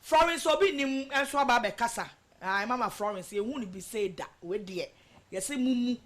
Florence obi nnim nso aba abɛkasa ae mama Florence yɛnhuu no bi sei da wei deɛ yɛse momu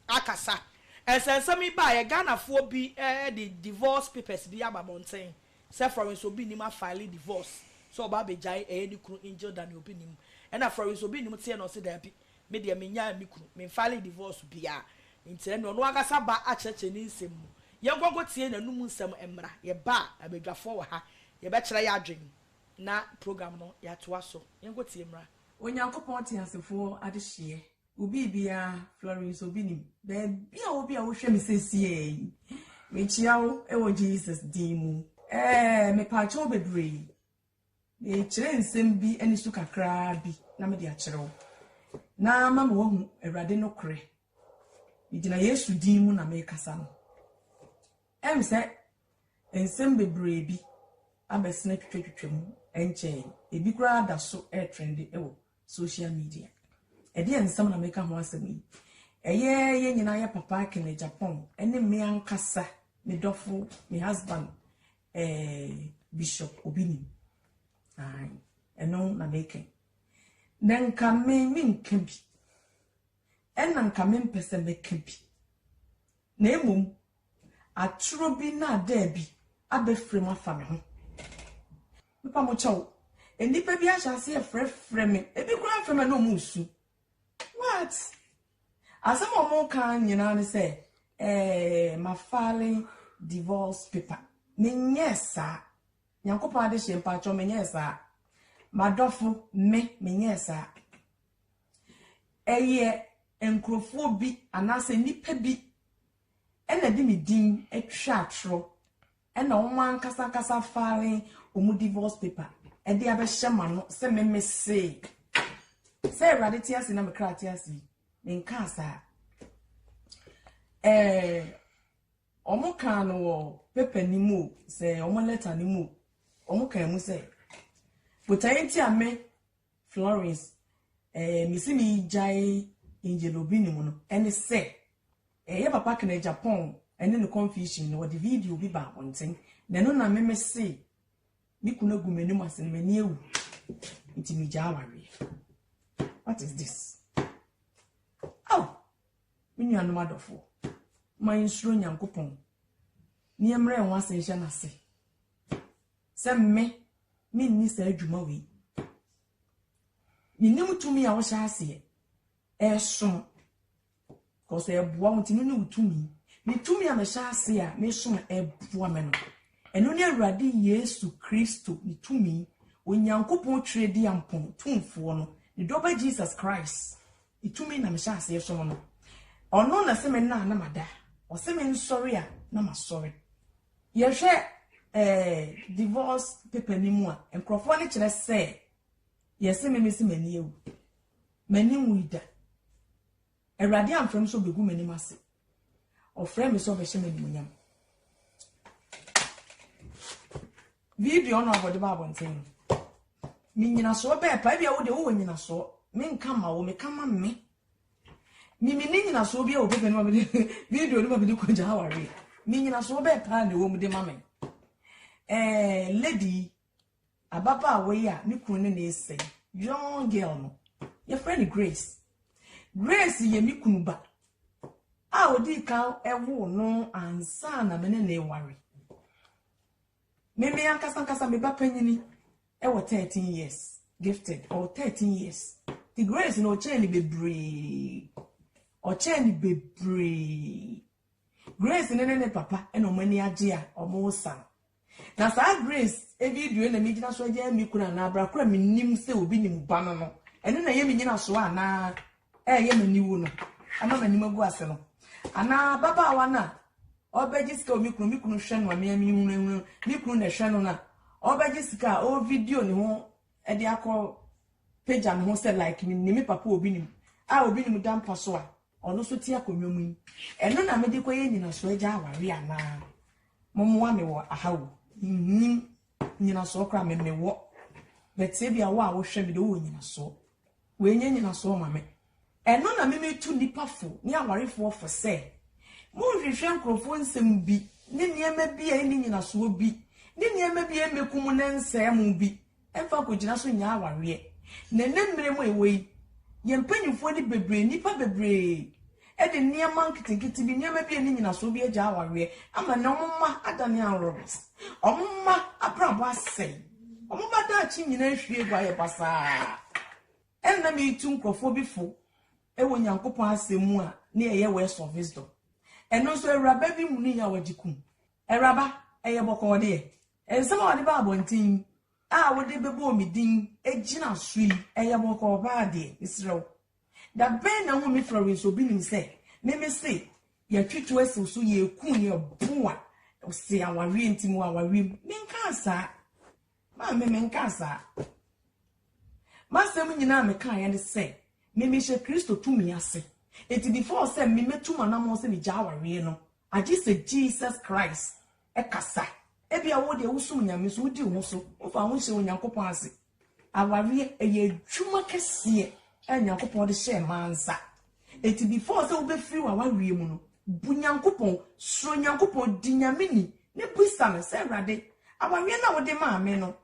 akasa nsɛnsɛm yi baeɛ Ghanafoɔ bi de divorce papers bi aba abɔnten sɛ Florence obi nnim afile divorce sɛ ɔba abɛgyae ɛyɛ ne kunu Angel Daniel obi nnim ɛna Florence obi nnim teɛ na ɔse daabi Me deɛ menyaa me kunu, memfaalee divorce biaa, nti ɛnneɛ ɔno ankasa ba akyerɛkyerɛ ne nsɛm mu. Yɛnkɔ nkɔtie n'anum nsɛm mmra, yɛba a abadwafoɔ wɔ ha, yɛbɛkyerɛ y'adwen na program no yɛatoa so. Yɛnkɔtie mmra. Onyankopɔn teasefoɔ adehyeɛ wo biribiara Florence obi nim baabi a wobi a wohwɛ me sesie yi mekyia wo wɔ Jesus din mu ɛɛ mepaakyɛw bebree Merekyerɛ nsɛm bi ani so kakraa bi na mede akyerɛ wo, na mama woahu Awurade nokorɛ. Megyina Yesu din mu na merekasa no. Ɛm sɛ nsɛm bebree bi abɛsene twitwatwitwa mu ɛnkyɛe. Ebi koraa da so retrɛnde wɔ social media. Ɛdeɛn nsɛm na meka ho asɛm yi? Ɛyɛ yɛn nyinaa yɛ papa Kenneth Agyapong ne me ankasa, me dɔfo, me husband, Eh, Bishop obi nim. Ae, ɛno na meka. Na nka me menka bi. Ɛna nka mempɛ sɛ mɛka bi. Na mmom, atoro bi na adaa bi abɛfrɛ mu afa me ho. Mepa mo kyɛw, nnipa bi ahyɛ aseɛ frɛfrɛ me. Ebi koraa frɛ me na wɔn resu. What? Asɛm a wɔn ka nyinaa ne sɛ ɛɛ ma fale divorce paper. Menyɛ saa. Nyankopɔn ade hyɛ mpakyɛw menyɛ saa. Madɔfo me menyɛ saa. Ɛyɛ nkurɔfoɔ bi anaasɛ nnipa bi ɛna de me din atwa atoro. Ɛna wɔn ankasa ankasa file wɔn divorce paper ɛde abɛhyɛ ma no sɛ me me se sɛ awurade te ase na me kra te ase me nka saa ɛɛ wɔn kaa no wɔ paper ni mu sɛ wɔn letter ni mu wɔn kaa mu sɛ botae nti a me Florence ɛɛ me si me gyae angel obi ne mu no ɛne sɛ. Ɛyɛ papa kena Japan ɛne no confusion no wɔde video bi ba abɔnten na ɛno na meme se me kunu agu m'anim ase no m'ani awu nti megyaa awareɛ what is this oh me nuanom adɔfoɔ ma yɛnsuro nyankopɔn ne yɛmmerɛ ho ase nhyɛ n'ase sɛ me menni saa adwuma wei menim tumi a wɔhyɛ aseɛ ɛsom cause ɛboa wo nti no ne wo tumi me tumi a mehyɛ ase a mesom a ɛboa me no ɛno ne awurade yesu kristo ne tumi onyankopɔn twerɛ di ampɔn tumfoɔ no ne dɔba jesus christ ne tumi na mehyɛ ase ɛsom no ɔno na sɛ me nna na mada ɔsɛ me nsɔre a na masɔre yɛhwɛ eh, divorce paper ni mu a nkurɔfoɔ no kyerɛ sɛ yɛse me mesi m'ani awu M'ani nwui da. Awurade amfrɛ me sɛ ɔbɛgu m'anim ase. Ɔfrɛɛ me sɛ ɔbɛhyɛ me animuonyam. Video no a wɔde ba abɔnten no, me nyinasoɔ bɛɛ pa. Ebia wo deɛ wowɔ nyinasoɔ. Menka mma wo, meka ma me. Me me ne nyinasoɔ bi a wɔ pepa no ma me de video no ma me de kɔgya awareɛ. Me nyinasoɔ bɛɛ paa na ɛwɔ mu de ma me. Ɛɛ, lady yi, Ababaawa yi a ne kunu ne no resɛe, young girl no, yɛfrɛ no Grace. Grace yɛ me kunu ba a odii kan woo no ansa na me ne no reware. Me me ankasa ankasa me ba panyini wɔ 13 years, gifted, ɔwɔ 13 years. Ti Grace no ɔkyɛn no bebree. Ɔkyɛn no bebree. Grace ne ne ne papa na wɔn ani agye a wɔresa no. Na saa Grace video yi na megyina so agyaa me kunu anaa bra koro a mennim sɛ obi nim ba no no. Ɛno na ɛyɛ me nyinasoɔ anaa ɛyɛ m'aniwu no ama m'anim agu ase no. Anaa babaawa no a ɔbɛgye sika wɔ me kunu me kunu hwɛ no a mea menhunahuna me kunu na ɛhwɛ no no a ɔbɛgye sika a ɔwɔ video ne ho de akɔ pagya ne ho sɛ like mennim me papa obi nim a obi nim da mpa so a Ɔno nso te akonnwa mu yi. Ɛno na mede kɔyɛ nyinasoɔ agya aware anaa? Mommoa me wɔ aha o. Mennim nyinasoɔ koraa me mewɔ. But ebia wo a wohwɛ me de wowɔ nyinasoɔ. Wei nyɛ nyinasoɔ ma me. Ɛno na me metu nnipa fo ne awarefoɔ fo sɛ, monnhwehwɛ nkurɔfoɔ nsɛm bi ne nneɛma bi a ɛnni nyinasoɔ bi ne nneɛma bi a ɛmmɛku mo na ɛnsɛe mo bi Fa kogyina so nyaa awareɛ. Na ɛnnɛ mmerɛ mu a yɛwɔ yi, yɛn mpanimfoɔ de bebree, nnipa bebree de nneɛma nketenkete bi, nneɛma bi a ɛnni nyinasoɔ bi agyae awareɛ ama nnɛ wɔn mma adane anworomes. Wɔn mma abrabɔ asɛe. Wɔn mma daakye nyinaa ahwie agu ayɛ basaa. Ɛna na meretu nkurɔfoɔ bi fo wɔ Nyankopɔn asɛm mu a na yɛyɛ Words of Wisdom. Ɛno nso awuraba bi hunui a ɔgye kum. Awuraba, ɛyɛ bɔkɔɔ deɛ. Nsɛm a wɔde ba abɔnten a wode bɛbɔ me din gyina so yi yɛ bɔkɔɔ paa deɛ, mesrɛ wo. Da bɛn na wohu me frɛ wo nso? Obi nim sɛ me mese yɛatwi to asi wo so, yɛreku, yɛrebo a, wose awareɛ nti mewɔ awareɛ mu. Menkaa saa. Maame, menkaa saa. M'asɛm nyinaa a mekaeɛ ne sɛ, me mehyɛ Kristo tumi ase. Enti before sɛ me mɛtu m'anammɔn sɛ megyaa awareɛ no, Agye sɛ Jesus Christ kasa. Ebia wo deɛ wosom Nyame so, wodi wo ho so, womfa wo ho nhyɛ Onyankopɔn ase. Awareɛ, ɛyɛ adwuma kɛseɛ a Nyankopɔn de hyɛɛ mmaa nsa. Enti before sɛ wobɛfiri w'awareɛ mu no, bu Nyankopɔn, suro Nyankopɔn, di Nyame ni, ne bisa no sɛ, Awurade, awareɛ no a wode maa me no,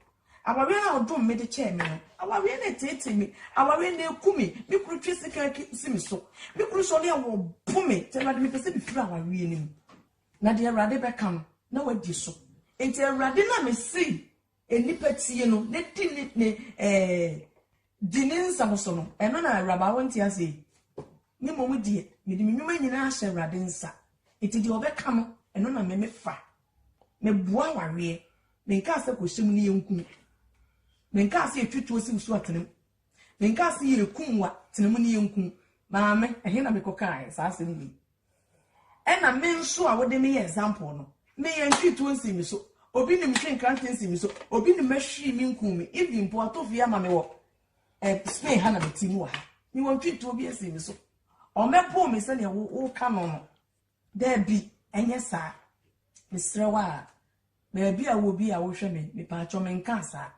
Awareɛ a ɔdom me de kyɛɛ me no, awareɛ no ɛteetee me, awareɛ no ɛku me, me kunu twe sekan si me so, me kunu sɔre a ɔbo me, nti Awurade mepɛ sɛ mefiri awareɛ no mu. Na deɛ Awurade bɛka no, na wadi so. Nti Awurade no a mesii nnipa tie no na di ne ne eh, di ne nsɛm so no, ɛno na awuraba wonte ase yi. Ne mmom deɛ, mede me nnwuma nyinaa ahyɛ Awurade nsa, nti deɛ ɔbɛka no, ɛno na me mefa. Meboa awareɛ. Menkaa sɛ kɔhyɛ mu ne yɛnku mu. Menkaa sɛ yɛtwe tuo siw so a tena mu. Menkaa sɛ yɛreku mmoa, tena mu ne yɛnku mu. Maame, ɛhe na mekɔkaeɛ saa asɛm wei? Ɛna me nso a wode me yɛ example no, me yɛntwee tuo nsii me so, obi nim hwee nkrante nsii me so, obi nim mahwiri me nkuu me, even mpo ato fie ama me wɔ eh, Spain ha na mete mu wɔ ha. Me wɔntwee tuo bi nsii me so. Ɔmmɛpoo me sɛdeɛ woka no no. Dabi, ɛnyɛ saa. Mesrɛ wo a, baabi a wowɔ bi a wohwɛ me, mepaakyɛw menkaa saa.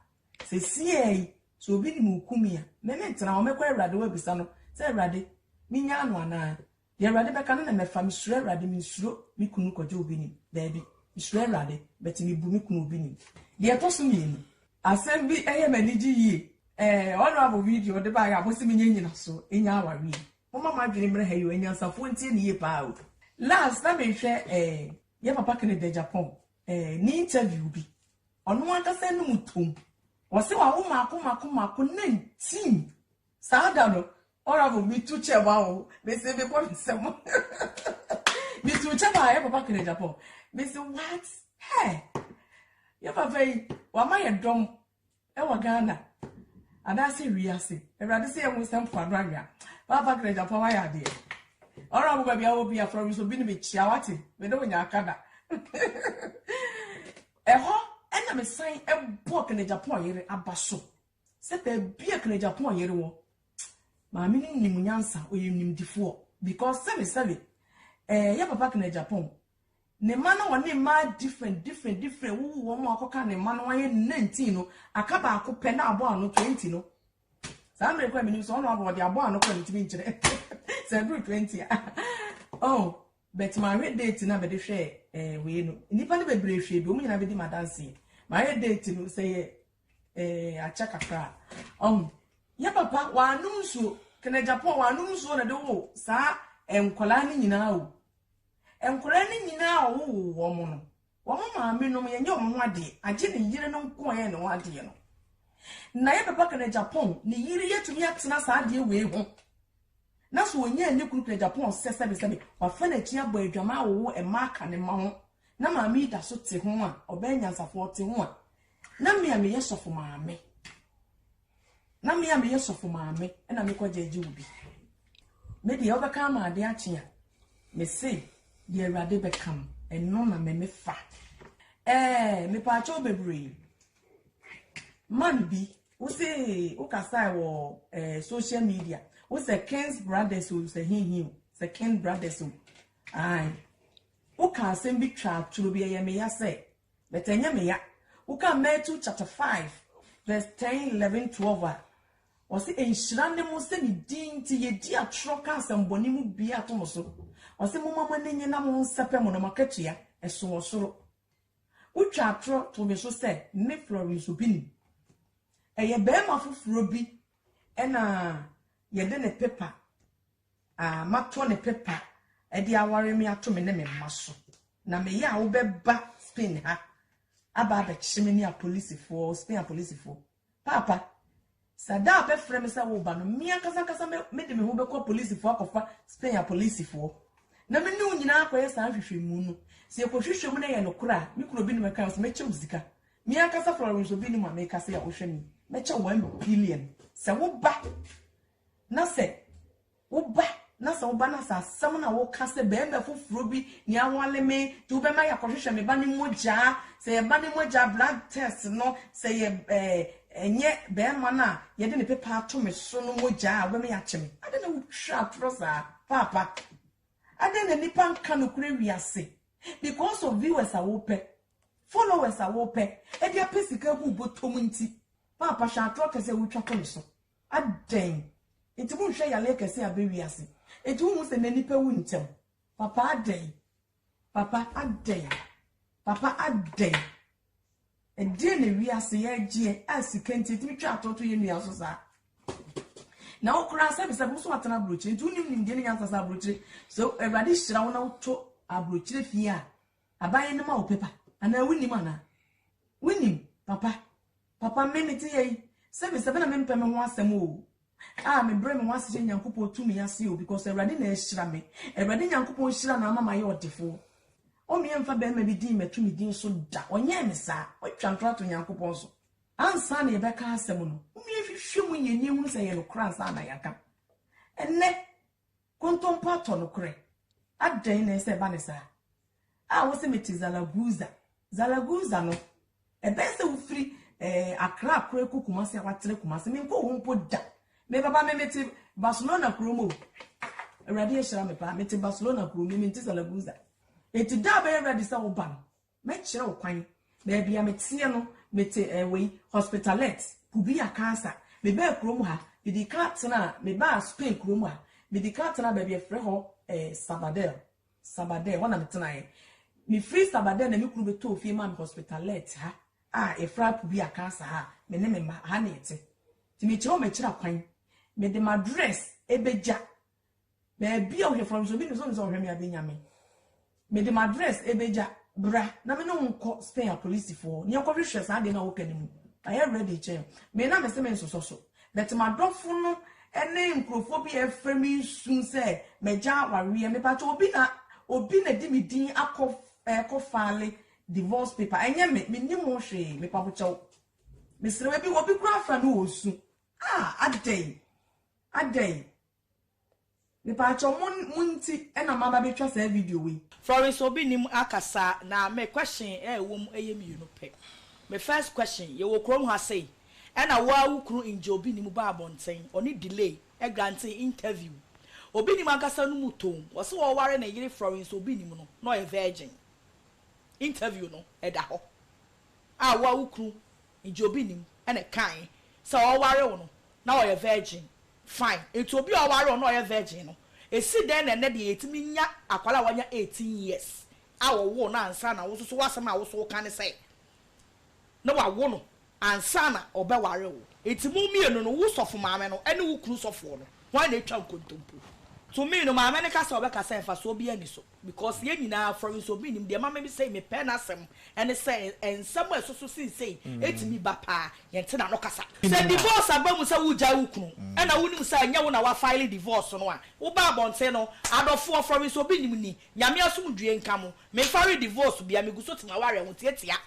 Sesiɛ yi, sɛ obi nim wo Kumi a, me ne ntena hɔ, mɛkɔ Awurade hɔ abisa no sɛ, Awurade, menyaa no anaa? Deɛ Awurade bɛka no na mɛfa, mesuro Awurade, mensuro me kunu kɔgye obi nim, dabi, mesuro Awurade, but mebu me kunu obi nim. Deɛ ɛtɔ so mmienu. Asɛm bi yɛ m'anigye yie, eh, honourable video wode baeɛ a mose menyɛ nnyinasoɔ, ɛnya awareɛ yi. Momma mo adwene mmra ha yi o, anyansafoɔ ntie no yie paa o. Last na mehwɛ eh, yɛ papa Kennedy Agyapong eh, ne interview bi. Ɔno ankasa anum toom. Ɔse wawo mako mako mako na ntim. Saa da no, Honourable metu kyɛ ma wo, mese mebɔ me nsam. Metu kyɛ ma yɛ papa Kennedy Agyapong. Mese what? Hey! Yɛ papa yi, wama yɛ dɔm. Ɛwɔ Ghana anaase wiase. Awurade sɛ yɛ wo nsa mpoano anwea. Baa Bagra Agyapong wayɛ adeɛ. Ɔra mo baabi a wɔ bi afra me so bi ne me kyia wate. Me ne wo nya aka da. Ɛhɔ ɛna me san ɛbɔ Kena Agyapong yere aba so. Sɛ baabi a Kena Agyapong yere wɔ. Maame no nim nyansa ɔyɛ nimdifoɔ because sɛbe sɛbe ɛɛ yɛ papa Kena Agyapong Ne mma na wɔne mmaa different different different wowo wɔn a wɔakɔka ne mma na wɔayɛ ne nineteen no aka baako pɛ na abɔ ano twenty no saa mmerɛ kɔ a menim sɛ ɔno abɔ ɔde abɔ ano kɔ ne tumi nkyerɛ sɛ ɛduru twenty a oh but mahwɛ date na mede hwɛ ɛɛ eh, wei no nnipa no bebree hwɛ bi wɔn nyinaa bɛdi madanseɛ mahwɛ date no sɛ yɛ ɛɛ eh, akyɛ kakra ɔho oh, yɛ papa wɔanom nsuo kɛnɛ japan wɔanom nsuo na de wo saa eh, nkwadaa no nyinaa o. Nkwadaa no nyinaa a wɔwoo wɔn no, wɔn maamenom, yɛnyɛ wɔn ho adeɛ, agye ne yere no nko a yɛyɛ ne ho adeɛ no. Na yɛ papa kana Japan, ne yere yɛtumi atena saa adeɛ wei ho. Na so ɔnyaa ne kunu kana Japan sɛ sɛbesɛbe, wafa n'akyi abɔ adwaman awowo mma aka ne mma ho, na maame yi da so te ho a, ɔbɛyɛ nyansafoɔ te ho a, na me a meyɛ sɔfo maame. na me a meyɛ sɔfo maame na mekɔ gyɛgye wo bi me deɛ wobɛka ama ade akye a mese deɛ awurade bɛka m ɛno na me mefa ɛɛ mepaakyɛw bebree man bi wo se wokasae wɔ ɛɛ social media wo sɛ kings brothers o sɛ hinhin o sɛ king brothers o ae woka asɛm bi twa atoro bi ɛyɛ meya sɛ But ɛnyɛ me ya. Wokan Matthew chapter five verse ten, eleven, twelve a, ɔse nhyira ne mo sɛ ne din nti yedi atorɔ ka asɛmmɔne mu biaa to mo so. Ɔse momma mo ani nnye na monsɛpɛ mo na mo akatua ɛso wɔ soro. Wotwa atorɔ to me so sɛ me Florence Obinim. Ɛyɛ barima foforɔ bi na yɛde ne paper a matɔ ne pepa de aware me ato me ne me mma so, na meyɛ a wobɛba Spain ha aba abɛkye me ne apolisifoɔ, Spain apolisifoɔ. Paapa, sɛ da a bɛfrɛ me sɛ woba no, me ankasa ankasa mede me ho bɛkɔ apolisifoɔ akɔfa Spain apolisifoɔ na me ne wo nyinaa akɔyɛ saa nhwehwɛmu no. Sɛ yɛkɔhwehwɛ mu na ɛyɛ nokorɛ a, me kunu obi no mɛka sɛ mɛkyɛ wo sika. Me ankasa Florence obi no mu a meka sɛ a wohwɛ me, mɛkyɛ wo one billion sɛ woba. Na sɛ woba, na sɛ woba, na sɛ asɛm na woka sɛ, Barima foforɔ bi na awale me, nti wobɛma yɛakɔhwehwɛ me ba no mogya, sɛ yɛn ba no mogya, blood test, no, sɛ yɛ, ɛɛ, ɛnyɛ barima no a yɛde ne pepa ato me so no mogya a, wobɛma yɛakye me? Adɛn na wotwa atorɔ saa? Paapa, adɛn na nnipa nka nokorɛ wiase because of viewers a wopɛ, followers a wopɛ, ɛde apɛ sika agu wo bɔtɔm nti? Paapa, hwɛ atorɔ kɛse a wotwa to me so. Adɛn nti monhwɛ yaleɛ kɛseɛ abɛ wiase nti wonhu sɛ nɛ nipa wu ntɛm papa adɛn papa adɛn papa adɛn ɛdeɛ na wiase yɛgyeɛ a sika nti ɛtumi twa atɔto yɛ nua so saa na wo koraa sɛ bisɛ boso atena aburokyire nti wonim nimdeɛ ne nyansa sɛ aburokyire so awurade hyira wo na woto aburokyire fie a aban no ma wo pepa anaa wonim anaa wonim papa Papa mme me te yei sɛ me sɛ bɛ na me mpɛ me ho asɛm oo ah me brɛ me ho ase hyɛ Nyankopɔn tumi ase oo because Awurade na ahyira me Awurade Nyankopɔn hyira na ama mayɛ ɔdefoɔ Ɔme ɛmfa bɛɛma bi din mɛto me din so da ɔnyɛɛ me saa watwa ntorɔ ato Nyankopɔn so ansa na yɛbɛka asɛm no momie hwehwɛ mu yɛnie hunu sɛ ɛyɛ nokorɛ ansa na yɛaka ɛnɛ Kontompo atɔ nokorɛ. Adɛn na ɛsɛ sɛ ɛba no saa? A wose mete Zaragoza. Zaragoza no, ɛbɛyɛ sɛ wofiri eh, Accra akora kɔ Kumasi a watra Kumasi. Menkɔ hɔ mpo da. Me papa me mete Barcelona kurom o. Awurade ahyira me paa. Mete Barcelona kurom, me mente Zaragoza. Enti da a bɛyɛ ready sɛ woba no, Mɛkyerɛ wo kwan. Baabi a meteɛ no, mete eh, wei, Hospitalet, Pubia Casa. Mebaa kurom ha, mede kan tenaa, mebaa Spain kurom ha, mede kan tenaa baabi a yɛfrɛ hɔ eh, Sabadell. Sabadell, hɔ na metenaeɛ. Mefiri Sabadell na me kunu bɛtɔɔ fie maa me Hospitalet ha a yɛfrɛ ha Pubia Casa ha a me ne me mma, ha na yɛte. Nti mekyerɛ wo m'akyiri akwan. Mede m'address bɛgya Baabi a ɔhwɛ fam nso obi nim sɛ ɔnim sɛ ɔhwɛ me a bɛnya me. Mede m'address bɛgya bra na me ne wo nkɔ Spain apolisifoɔ hɔ na yɛnkɔhwehwɛ saa adeɛ no a wopɛ no mu. Mayɛ ready kyɛn wo. Me na mese mensosɔ so. But m'adɔfo no ne nkurɔfoɔ bi a ɛrefrɛ me nsu sɛ magya awareɛ. Mepakyɛ obi na obi na de me din akɔ ɛrekɔ file divorce paper. Ɛnyɛ me. Mennim ho hwee. Mepabokyɛ wo. Mesrɛ wo. Ebi obi koraa afrɛ me wɔ nsu. Ah! Adɛn? Adɛn? Mepaakyɛw mo mo nti na maba betwa saa video wei. Florence obi nim akasa na me question a ɛwɔ mu ɛyɛ mmienu pɛ. Me first question, yɛwɔ kurom ha sei ɛna wo ara wo kunu ngye obi nim ba abɔnten ɔne delay granting interview obi nim ankasa no mu toom ɔse ɔware ne yere Florence obi nim no na ɔyɛ virgin interview no ɛda hɔ a wo ara wo kunu Nti obi nim na ɛkae sɛ ɔreware wo no na ɔyɛ virgin. Fine, nti obi a ɔware wo na ɔyɛ virgin no, esi dɛn na ɛnnɛ deɛ yɛtumi nya akwadaa a wanya eighteen years a wɔwoo no ansa na wo nso so w'asɛm a wo nso woka ne sɛ na wawo no ansa na ɔbɛware wo? Nti mo mmienu no, wo sɔfo maame no ne wo kunu sɔfoɔ no, hwan na atwa nkontompo? To me no, maame no ka sɛ ɔbɛka sɛ mfasoɔ biara nni so. Because yɛn nyinaa fɔre nso me nim deɛ ɛma me sei me pɛ n'asɛm ɛne sɛ nsɛm a ɛsoso seisei ɛtumi ba paa yɛn te n'ano kasa. Sɛ divorce aba mu sɛ wo gyae wo kunu ɛna wo nim sɛ ɛnyɛ wo na wa file divorce no a wo ba abɔnten no adɔfoɔ fɔre nso me nim ni Nyame asomdwie nka mo me file divorce bia me gu so te m'awareɛ ho tiatia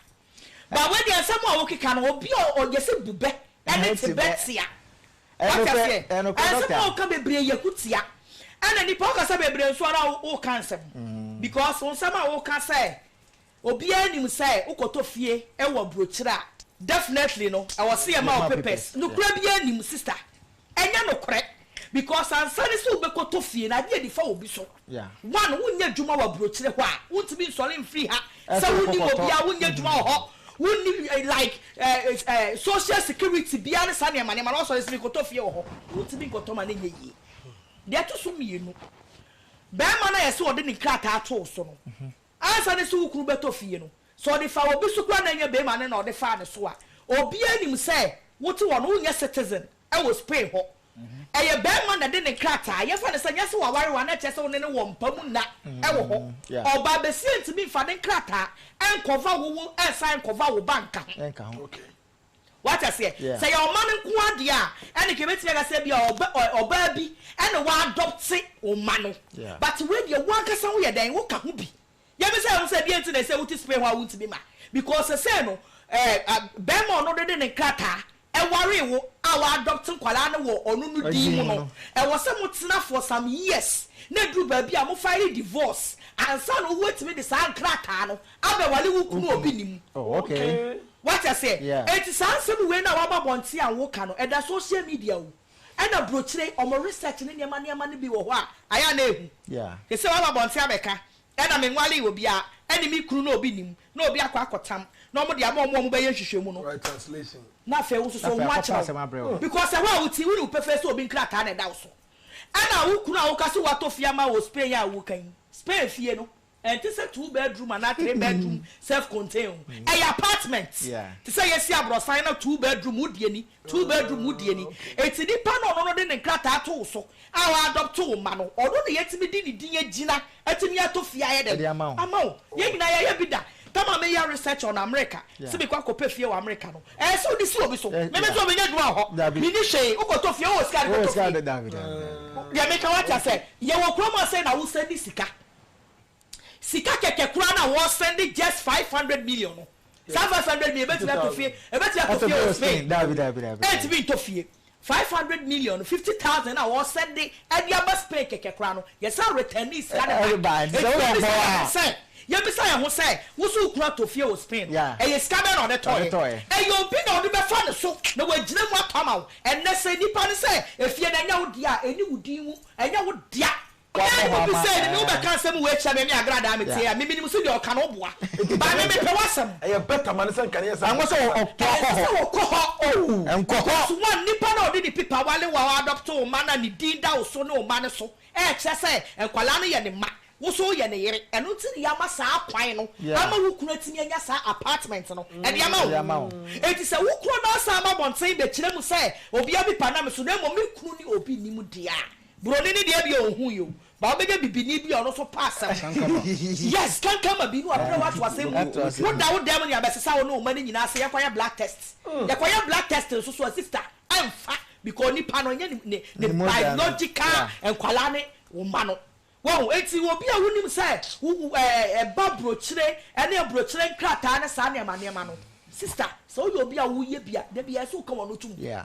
But wei deɛ nsɛm a wokeka no obi a ɔyɛ sɛ bubɛ ɛne tebɛ tia wate aseɛ ɛnsɛm a woka bebree yɛ hu tia ɛna nipa wokasa bebree nso ara woka nsɛm because wonsɛm a woka sɛ obiara nim sɛ wokɔtɔ fie ɛwɔ aburokyire a definitely no ɛwɔ sɛ yɛma wo papers nokorɛ biara nim sister Ɛnyɛ nokorɛ because ansa ne sɛ wobɛkɔtɔ fie no adeɛ nifa wɔ bi so one wonyɛ adwuma wɔ aburokyire hɔ a wontumi nsɔre mfiri ha sɛ wonim obiara wonyɛ adwuma wɔ hɔ wonni like social security biara ne saa nneɛma nneɛma no wasɔre sɛ mekɔtɔ fie wɔ hɔ wontumi nkɔtɔ ma no nyɛ yie deɛ ɛto so mmienu bɛrima no a yɛse wɔde ne nkrataa too so no Ansa ne se wo kunu bɛtɔ fie no, sɛ ɔde faa obi so koraa na ɛnyɛ barima no na ɔde faa ne so a, obiara nim sɛ wote hɔ no, wonyɛ citizen wɔ Spain hɔ. Ɛyɛ barima na ɛde ne nkrataa, yɛmfa no sɛ nyɛ sɛ waware wo a na ɛkyerɛ sɛ wo ne no wɔ mpa mu nna wɔ hɔ. Ɔbaa basia ntumi mfa ne nkrataa nkɔva wo wo nsan nkɔva wo ba nka ho. Wate aseɛ? Sɛ ɛyɛ ɔma no nko ara deɛ a, ɛnneɛ nka yɛbɛtumi aka sɛ ebia ɔba, ɔ, ɔbaa bi na w'adɔpte wo mma no. But wei deɛ, wo ankasa woyɛ dɛn? Woka ho bi. Yɛpɛ sɛ yɛhu sɛ deɛn nti na ɛsɛ sɛ wote Spain hɔ a wontumi ma. Because seesei no, ɛɛ, a, barima a ɔno de ne nkrataa waree wo a w'adɔpte nkwadaa no wɔ ɔno no din mu no, ɛwɔ sɛ motena for some years na ɛduru baabi a mo file divorce ansa na ɔwuatumi de saa nkrataa no Abɛwale wo kunu a obi nim. Oh okay. Wate aseɛ? Yeah. Enti saa nsɛm wei no a waba abɔnten a woka no, ɛda social media o, ɛna burokyire, wɔn research ne nneɛma nneɛma no bi wɔ hɔ a, ayɛ a na ɛhu. Yeah. Te sɛ woaba abɔnten abɛka, ɛna menwalee obiara, ɛne me kunu na obi nim, na obi akɔ akɔtam, na wɔde ama wɔn a wɔbɛyɛ nhwehwɛmu no. Right translation. Na afei wo nso so, wo ho akyerɛ wo. Because ɛhɔ a wote, wonim pefee sɛ obi nkrataa na ɛda wo so. Ɛna wo kunu a woka sɛ watɔ fie ama wɔ Spain a woka yi, Spain fie no, Ɛnte sɛ two bedroom anaa three bedroom self contain o, ɛyɛ apartment te sɛ yɛsi abrɔsan na two bedroom wo deɛ ni, two bedroom wo deɛ ni. Enti nipa no ɔno no de ne nkrataa to wo so a wa adɔpte wo mma no, ɔno na yɛtumi de ne din agyina atumi atɔ fie ayɛ dɛn? Ama wo. Yɛn nyinaa yɛayɛ bi da. Tam a meyɛ research on America sɛ mekɔ akɔpɛ fie wɔ America no, ɛyɛ sɛ wode si obi so. Me me deɛ menya adwuma wɔ hɔ, menni hwee, wokɔtɔ fie, wowɔ sika a de kɔtɔ fie. Deɛ meka wate aseɛ? Yɛwɔ kurom ha sei na Hausa nni sika, Sika kɛkɛ koraa na wɔ sɛnde just five hundred million no saa five hundred million ebetumi ato fie ebetumi ato fie wɔ Spain entumi ntɔ fie five hundred million no fifty thousand na wɔ sɛnde ɛde aba Spain kɛkɛ koraa no yɛ san returnee sika no back eti yɛ bisa yɛ ho sɛ yɛ bisa yɛ ho sɛ woso wo kunu atɔ fie wɔ Spain no ɛyɛ sika bɛn na ɔde tɔ yɛ ɛyɛ obi na ɔde bɛ fa ne so na wɔ gyina mu atɔ ama wo ɛnɛ sɛ nipa no sɛ efie no ɛnyɛ wo dea ɛni wo din mu ɛnyɛ wo dea Ɔbaa yi koto sɛ meme wo bɛka asɛm wei kyerɛ me ne agradaa me tie a me menim sɛdeɛ ɔka no boa but me mepɛ w'asɛm. Ɛyɛ better ma no sɛ nka ne yɛ sɛ Ɛnsɛ sɛ ɔkɔ hɔ. Ɛnsɛ sɛ ɔkɔ hɔ Nkɔ hɔ. Because one nipa no a ɔde ne pipa wale wo a wa adopto wo mma no a ne din da wo so ne wo mma no so ɛkyerɛ sɛ nkwadaa no yɛ ne mma wo nso wo yɛ ne yere ɛno nti na yama saa kwan no ama wo kunu atumi anya saa apartment no ɛde ama wo ɛnti sɛ wo kunu no asan aba abɔnten bɛkyerɛ mu sɛ obiara pipa nam me so na mmom me kunu ne obi nnim deɛ a Buroni no deɛ ɛbi a ɔnhuuɛ o, but wobɛnya bibini bi a ɔno nso pɛ asɛm. Kankama. Yes, kankama bi ne wabrɛ wo ato asɛm mu o. Woda wo dan mu ne abɛsesa wo ne wo mma no nyinaa sɛ yɛnkɔyɛ blood test. Yɛkɔyɛ blood test nso so a, sister, ɛmfa because nipa no ɛnyɛ ne ne biological nkwadaa ne wo mma no. Wahu? Enti obi a wonim sɛ wo wo ɛɛ ɛba burokyire ne aburokyire nkrataa ne saa nneɛma nneɛma no, sister, sɛ woyɛ obi a woyɛ bi a, dabiara ɛsɛ sɛ woka w'ano tom. Yeah.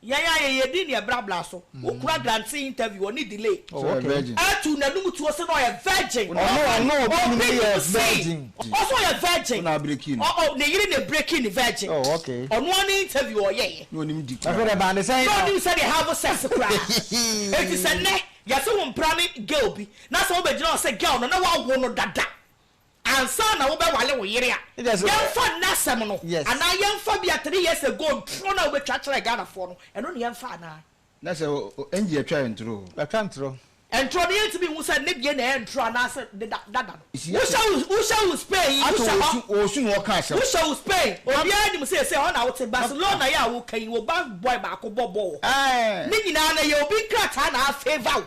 Yɛn ayɛyɛde ne ɛbrabra so. Wo kura Grantee interview ɔne delay. Sɛ ɔyɛ virgin. Ɛtu n'anum tuo se na ɔyɛ virgin. Ɔno ɔno obi num no yɛ virgin. Ɔse ɔyɛ virgin. Wo na abreaki no. Ɔɔ ne yere na abreaki no virgin. Oh ok. Ɔno ara ne interview ɔyɛeɛ. Na ɔnim di koraa. Afei deɛ ɛbaa ne sɛn no. Na ɔnim sɛdeɛ have sex koraa. Enti sɛ nnɛ yɛse wo mpra ne girl bi na sɛ wobɛgyina hɔ sɛ girl no na woawo no dada. ansa na wobɛwale wo yere a, yɛmfa nnɛ asɛm no anaa yɛmfa bi a three years ago ntorɔ no a wobɛtwa kyerɛɛ Ghanafoɔ no, ɛno na yɛmfa anaa? Na sɛ Angie atwa yɛ ntorɔ o? Watwa ntorɔ. Ntorɔ no yɛntumi nhu sɛ ne deɛ na ɛyɛ ntorɔ anaasɛ ne dada no. Wohyɛ wo Spain yi, wohyɛ hɔ. Ato wɔ osu na wɔka asɛm. Wohyɛ wo Spain, obiara nim sɛ ɛsɛ hɔ na wote. Barcelona yi a woka yi, wo ba boy baako bɔ bɔɔl wɔ hɔ. Ne nyinaa no ɛyɛ obi nkrataa na a favour wo.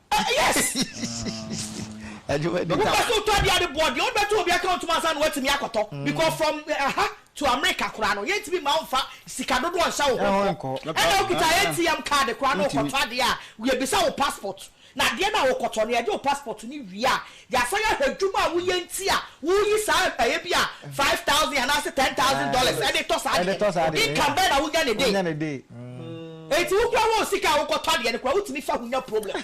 Yes! Wopɛ sɛ wotɔ adeɛ a de boɔ deɛ wode bɛto obi account mu ansa na woatumi akɔtɔ because from ɛha to America koraa no yɛntumi mma wo mfa sika dodoɔ nhyɛ wo ho nkɔ. Ɛna wokita ATM card koraa na wokɔtɔ adeɛ a yɛbisa wo passport na adeɛ no a wokɔtɔ no yɛgye wo passport no wie a Yɛasan ahwɛ adwuma a woyɛ nti a wuyi saa mpaeɛ bi a five thousand anaasɛ ten thousand dollars de tɔ saa adeɛ no. Income bɛn na wunya ne day? Enti wo koraa wo sika a wokɔtɔ adeɛ no koraa wotumi fa ho nya problem.